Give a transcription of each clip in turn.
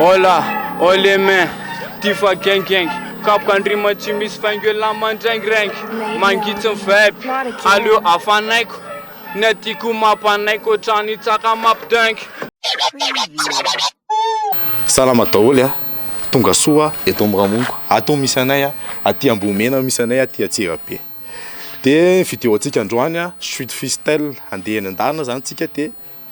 Hola, oh les mains, tia fa gengengy Kapoka an-drima tsy misy faingo'elah mandraingiraingy Mangitsy ny vibe, aleo hafanaiko Ny adiko mampanaiky ohatran'ny tsaka mampidaingy Salama daholo a! Tonga soa eto Amiramongo ato misy anay a! Aty Ambohimena misy anay aty Antsirabe. Dia ny vidéo antsika androany a, chute fistelle, handeha eny an-dalana zany tsika dia.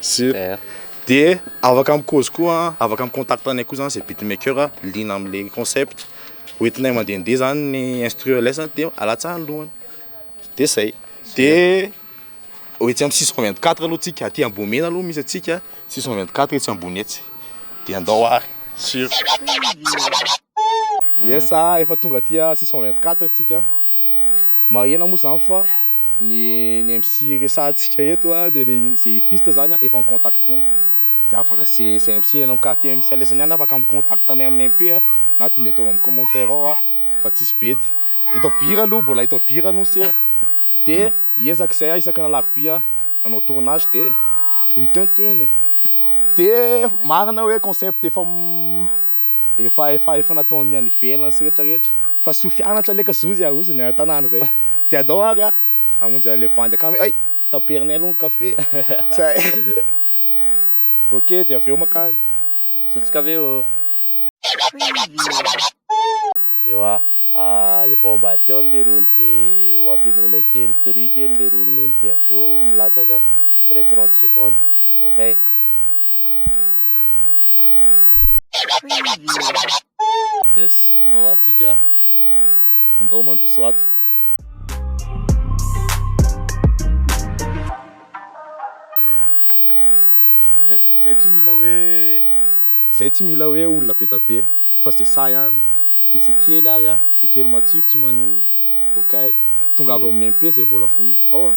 Super. De afaka mikozy koa afaka mi contact anay koa zany zay beatmaker liana amle concept hoentinay mandehandeha zany ny instru lesany de alatsahany lohany de zay de etsy am six cent vingt quatre aloha tsika aty ambohimena aloha misy atsika six cent vingt quatre etsy ambony etsy de andao ary sur yes ah efa tonga aty six cent vingt quatre tsika. Marihina moa izany fa ny ny MC resahantsika eto a dia ny izay hifista izany a efa mi-contacter-na dia afaka izay izay MC ianao ka aty amin'ny salesany ihany afaka mi-contact anay amin'ny MP a na tonga dia ataovy amin'ny commentaire ao a fa tsisy bedy eto Bira aloha mbola eto Bira no seza dia hiezaka izay aho isaka ny alarobia hanao tournage dia ho hita eo ny tohiny e dia marina hoe concept efa Efa efa efa nataon'ny any ivelany sy rehetra rehetra fa soa fianatra leka zoa zay aroso ny tanàna zay de adao ary a amonjy any le bandy akany ay taperinay aloha ny kafe zay ok de avy eo makany Zotso kafe ô Ewa ah efa ao ambadika ao leroa no de ho ampenoinay kely toria kely leroa no de avy eo milatsaka après trente secondes ok. Yes, ndao ato tsika, ndao mandroso ato. Yes, zay tsy mila hoe, zay tsy mila hoe olona be dia be fa zay sahy ihany, dia zay kely ary a, zay kely matsiro tsy maninona, okay. Tongava ao amin'ny MP zay mbola vonona, ao a.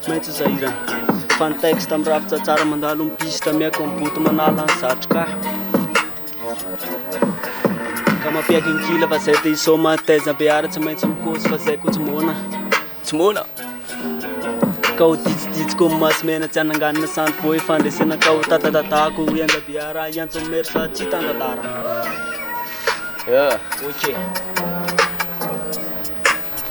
Tsy maintsy sahirana Fa ny texte mirafitra tsara Mandalo ny piste Mihaiko ny boto Manala ny satroka Ka mampiaiky ny kila Fa zay te hisaoma Taiza behara Tsy maintsy mikosa Fa zay ko tsy moana Tsy moana Ka ho ditsiditsy ko maso mena Tsy hananganina sandry voa Ifandresena ka ho tatatatako Ho enga behara Hiantso ny maire Sady tsy hitan-tantara Yeah Ok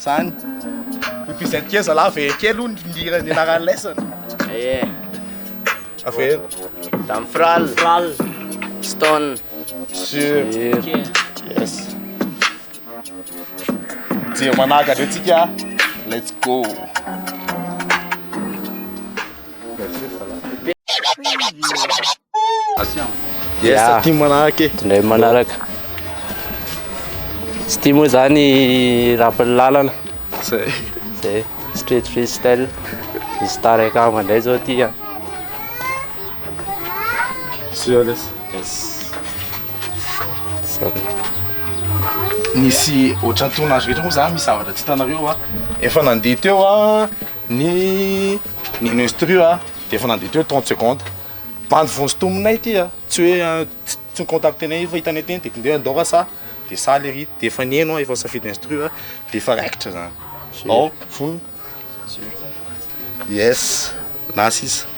Zany. Ny present kely zalahy very kely hono ny hira ny anaran'ny lesson. Ehe. Averina. Damfral. Damfral. Stone. Sur. Yes. Jiro manahaka be tsika. Let's go. Ya, tondray manaraka. Tsy tia moa zany rapin'ny lalana. Zay. Zay, street freestyle. Misy tarek ava ndray zao ty an. Nisy ohatran'ny tony azo rehetra moa zany misy zavatra tsy hitanareo an. Efa nandeha teo an, Ny ministry io dia efa nandidy teo trente secondes. Bandy vonsintominay ity a! Tsy hoe tsy ni-contacter anay io fa hitanay teny dia tondroy andao r'asa dia saly ery. Dia efa niheno aho, efa nisafidy instru aho dia efa raikitra izany. Ao, vonona. Yes, na sisa.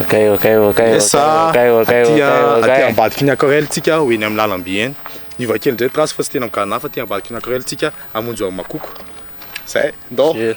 Okay, okay, okay. Esa okay, okay, aty aty ambadiky ny aquarelle tsika ho eny amin'ny lalamby eny. Niova kely ndray trace fa tsy tena migadona fa aty ambadiky ny aquarelle tsika amonjy amin'ny makoko. Zay, ndao. Yeah.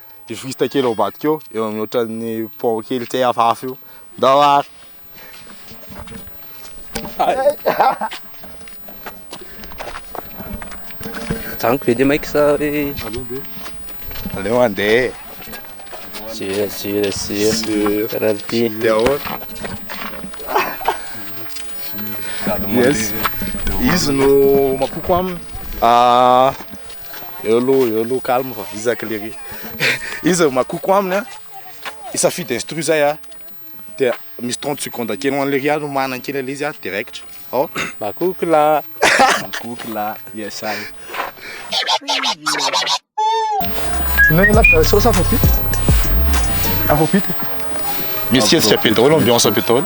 Journaliste kely ao ambadika eo, eo amin'ny ohatran'ny pont kely tsy hay hafahafa io. Ndao ary. Janiko be dia maika sa hoe Aleo be. Aleo mandeha e. Zero zero zero. Penalty. Dia ahoana? Yes. Izy no mampoko aminy. Ah. Eo aloha, eo aloha, calme fa vizaka lery. Iza makoko aminy a? Isafidy instru zay a. Dia misy 30 secondes kely ho an'i lery no manana kely an'ilay izy a, dia raikitra. Ao. Makoko lahy. Makoko lahy. Yes I. Inona ny lahy? Sauce afrobeat. Afrobeat. Misy hetsika be daholo, ambiance be daholo.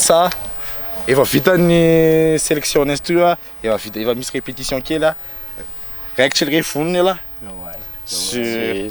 Sa efa vita ny selection n'izy toy a, efa vita efa misy répétition kely a, raikitra ery ve vonona elah? Sur.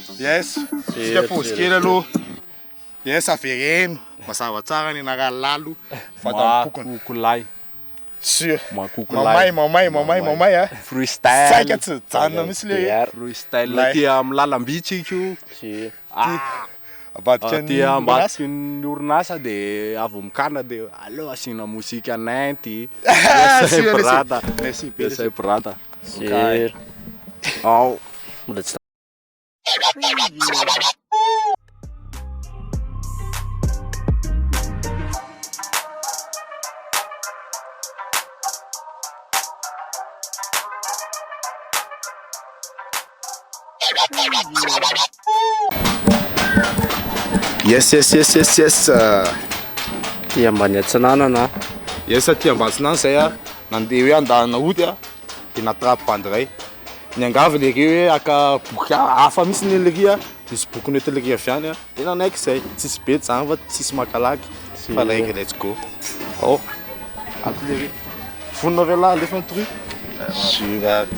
Yes, tsika pause kely aloha. Yes, avereno mazava tsara ny anarany lalo vatan'ny pokona. Makokolay. Sûr. Makokolay. Mamay, mamay, mamay, mamay a. Freestyle. Saika tsy hijanona mihitsy le hoe. Freestyle aty amin'ny lalamby tsika io. Sûr. Ambadiky ny orinasa. Aty ambadiky ny orinasa dia avy mikana dia aleo asiana mozika nenty. Sûr, merci. Merci be. Merci brata. Sûr. Ao. Yes, yes, yes, yes, yes. Ty ambany atsinanana. Yes, ty ambatsinana zay a. Nandeha hoe andalana hody a. dia natrapy bandy iray. Niangavy ilay ry hoe haka boky hafa mihitsy ny ilay ry, nisy boky nentin' ilay ry avy any dia nanaiky izay. Tsisy be izany fa tsisy makalaky fa raiky let's go. Ao, ato ilay ry. Vonona ve lahy alefa ny truie? Sur ary.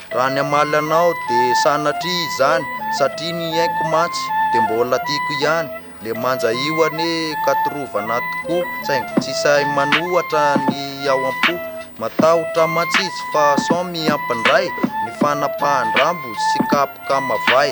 Raha ny hamaly anao de sanatria izany satria ny aiko mantsy de mbola tiako ihany le manja io anie ka torovana tokoa saingy tsy sahy manohatra ny ao am-po matahotra mantsy izy fa sao mihampandray ny fanapahan-drambo sy kapoka mavay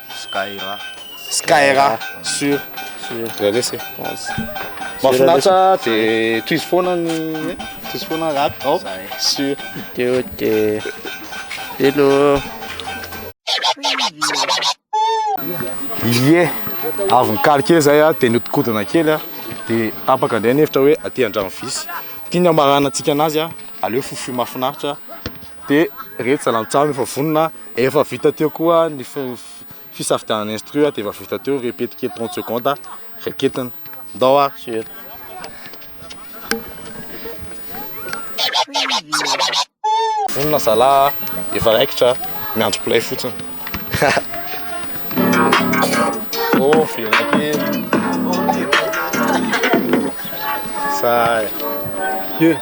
Skyra. Skyra sur. Zay lesy e. Mahafinaritra dia tohizo foana ny tohizo foana rap ao sur. Teo dia hello. Ilie avy nikaly kely zay a dia nodikodina kely a dia tapaka indray ny hevitra hoe aty andrano visy ity ny hamaranantsika anazy a aleo fofoy mahafinaritra dia reto zalahy mitsam efa vonona Efa vita teo koa ny fisafidianana instru dia efa vita teo, répète kely trente secondes, raketina. Ndao ary Suel. Vonona zalahy a, efa raikitra a, miandry play fotsiny. Oh, velona kely. Zay. Yeah.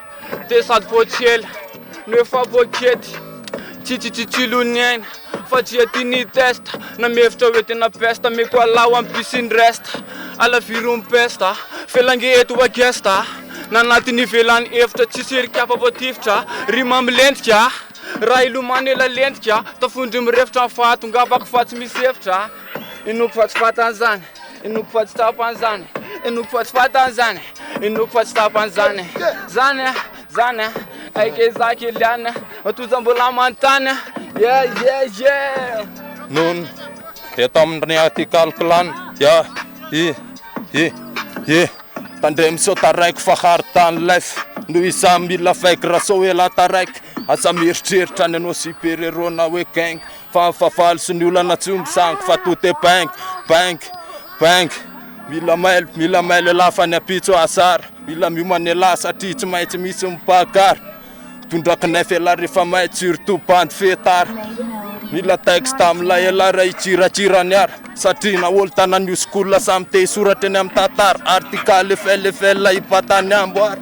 Dia sady boaty ela no efa boaky ety Tsy tsy tsy tsilon'ny aina fa tsy ety ny testa Na mihevitra hoe tena pesta Meko alaho am pisy ny resta Alaviro ny pesta Felange eto wa gesta Na anaty ny ivelany efitra Tsy sery kapa voatifitra Rima milentika Raha hilomano ela lentika Tafondro mirefitra ny fahatongavako fa tsy misy efitra Inoako fa tsy fantany zany Inoako fa tsy tapany zany Inoako fa tsy fatany zany Inoako fa tsy tapany zany Zany a, zany a Aika izaho Kylian a Matoja mbola manontany a Yeah, yeah, yeah Noon dia tamin'ny Atical Clan Yeah, yeah, yeah, yeah Tandremo sao taraiky fa hard tany life Noho izaho mila fake raha sao ela taraiky Aza mieritreritra ny hanao super héros na hoe gang Fa ny fahavalo sy ny olana tsy misangy fa tout est ping, ping, ping. Mila mailo, mila mailo elah fa ny ampitso hahasara Mila miomana elah satria tsy maintsy misy ny mpakara Tondraky nefa elah rehefa mailo surtout bandy fetara Mila texte amin'ilay elah raha hitsiratsira ny ara Satria na olon-tanan'ny oskola samy te hisoratra eny amin'ny tantara Article FLFL hipatany amboara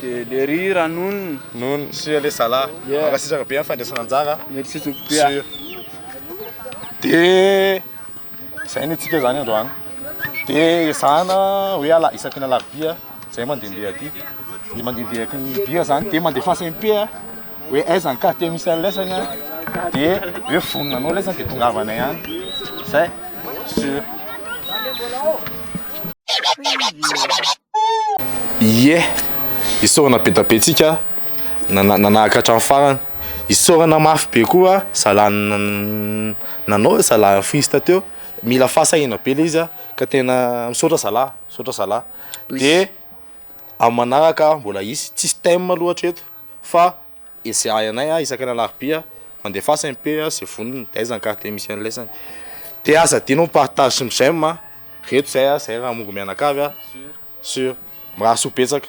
Dia lery raha nono. Nono sy le zala. Yeah. Mankasitraka be amin'ny fandraisana anjara. Merci tompoko be. Sur. Dia zay ny antsika zany androany. Dia ezahana hoe ala isaky ny alarobia zay mandehandeha aty. Ny mandehandeha aky ny bira zany dia mandefasa MP a. hoe aiza ny quartier misy an'ny lesany an, dia hoe vonona anao lesany dia tongavanay any izay sur. Ie, isaorana be da be tsika nanahaka hatramin'ny farany, isaorana mafy be koa zalahy nanao hoe zalahy arfista teo, mila fahasahiana be le izy ka tena misaotra zalahy, misaotra zalahy, dia amin'ny manaraka mbola hisy, tsisy thème loatra eto. fa esehahy anay a isaky ny alarobia mandefasa MP a ze vonony de aiza ny carte misy an'ilay zany de aza adino ny partage sy ny j'aime a reto zay a zay raha mongo mianakavy a sur mirahasoa betsaka.